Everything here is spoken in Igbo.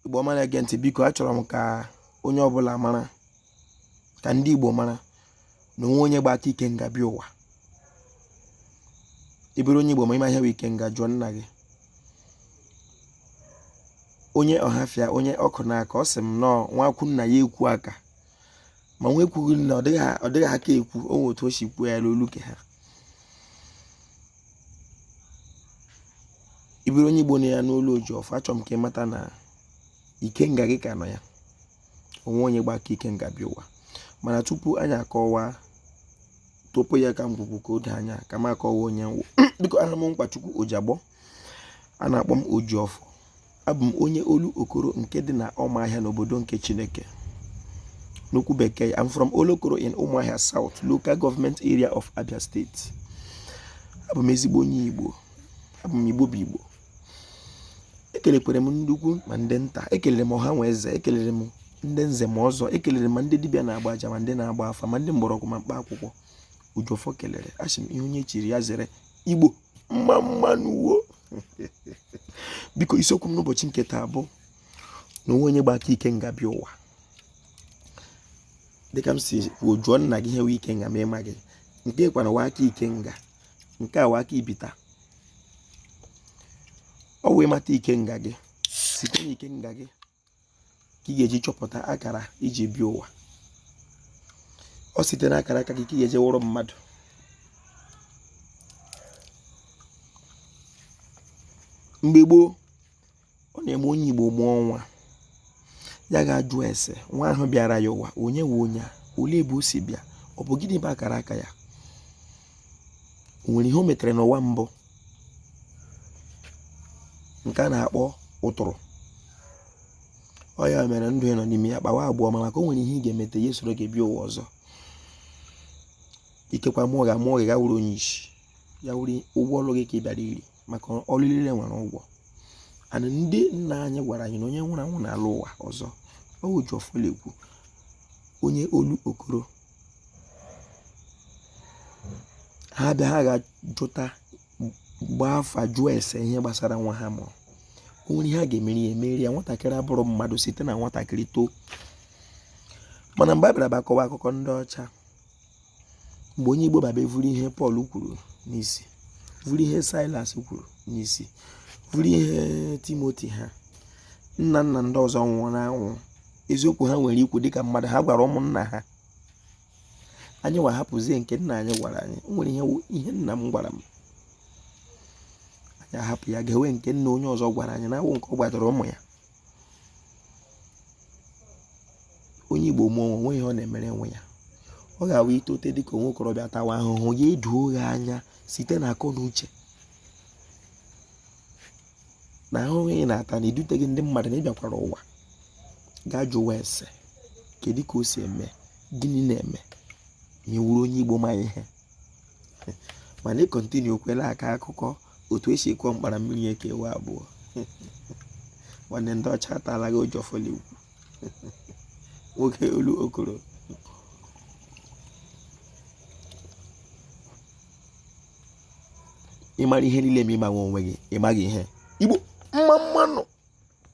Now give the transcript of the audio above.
Igbo ọma na-ege ntị biko achọrọ m ka onye ọbụla mara ka ndị Igbo mara na onwe onye gba aka ikenga bịa ụwa ị bụrụ onye Igbo ma ịma ihe bụ ikenga jụọ nna gị onye ọhafịa onye ọkụ n'aka ọ sị m nọọ nwa kwu nna ya ekwu aka ma nwa ekwughị nna ọ dịghị aka ekwu o nwe otu o si kwuo ya n'olu ke ha ị bụrụ onye igbo na ya n'olu Ojiọfọ achọrọ m ka ị mata na ikenga gị ka nọ ya onwe onye gba aka ikenga bịa ụwa mana tupu anyị akọwa tọpụ ya ka ngwugwu ka o doo anya ka m akọwa onye m wụ biko aha m Nkwachukwu Ojiagbọ a na-akpọ m Ojiọfọ abụ m onye Olokoro nke dị na Ọmahịa n'obodo nke Chineke n'okwu bekee I'm from Olokoro in Ụmụahịa South local government area of Abia State abụ m ezigbo onye Igbo abụ m Igbo bụ Igbo ekelekwere m ndị ukwu ma ndị nta ekelere m ọha nwe eze ekelere m ndị nze ma ọzọ ekelere m ndị dibịa na-agba aja ma ndị na-agba afa ma ndị mgbọrọgwụ ma mkpa akwụkwọ Ojiọfọ kelere asị m ihe onye chiri ya zere Igbo mma mma nụ wo biko isiokwu m n'ụbọchị nke taa bụ na onwe onye gba aka ikenga bịa ụwa dịka m si kwuo jụọ nna gị ihe wụ ikenga ma ịmaghị nke kwanụ wụ aka ikenga nke a wụ aka ibita ọ wụ ị mata ikenga gị site na ikenga gị ka ị ga-eji chọpụta akara i ji bịa ụwa ọ site na akara aka gị ka ị ga-eji wụrụ mmadụ mgbe gboo ọ na-eme onye Igbo mụọ nwa ya ga-ajụ ese nwa ahụ bịara ya ụwa onye wụ onye a olee ebe o si bịa ọ bụ gịnị bụ akara aka ya o nwere ihe o metere n'ụwa mbụ nke a na-akpọ ụtụrụ ọ ya mere ndụ a ị nọ n'ime ya kpawa agwa ọma maka o nwere ihe ị ga-emete ya esoro gị bịa ụwa ọzọ ikekwe a mụọ gị a mụọ gị gị awụrụ onye isi ya wụrụ ụgwọ ọrụ gị ka ị bịara iri maka ọrụ niile nwere ụgwọ and ndị nna anyị gwara anyị na onye nwụrụ anwụ na-alọ ụwa ọzọ ọ wụ Ojiọfọ na-ekwu onye Olokoro ha bịa ha ga-ajụta gbaa afa jụọ ese ihe gbasara nwa ha mụrụ o nwere ihe ha ga-emeri ya emeri ya nwatakịrị abụrụ mmadụ site na nwatakịrị too mana mgbe a bịara bịa kọwa akụkọ ndị ọcha mgbe onye igbo baba evuru ihe pọl kwuru n'isi vuru ihe silas kwuru n'isi vuru ihe timoti ha nna nna ndị ọzọ nwụrụ anwụ eziokwu ha nwere ikwu dịka mmadụ ha gwara ụmụnna ha anyị wa hapụzie nke nna anyị gwara anyị o nwere ihe nna m gwara m anyị ahapụ ya ga-ewe nke nna onye ọzọ gwara anyị na awụ nke ọ gwadoro ụmụ ya onye igbo mụọ nwa o nwere ihe ọ na-emere nwa ya ọ ga-awụ i tote dịka nwa okorobịa tawa ahụhụ ya edoo gị anya site na akọ na uche na ahụhụ ị na-ata na-edute gị ndị mmadụ na ị bịakwara ụwa gaa jụwa ese kedu ka o si eme gịnị na-eme ma ị wụrụ onye igbo ma ihe mana ị continue kwela aka akụkọ otu e si kụọ mkpara mmiri ekewaa abụọ nwanne ndị ọcha atala gị ọjị fọligwu nwoke olu okoro ị mara ihe niile ma ị maghị onwe gị ị maghị ihe igbo mma mma nụ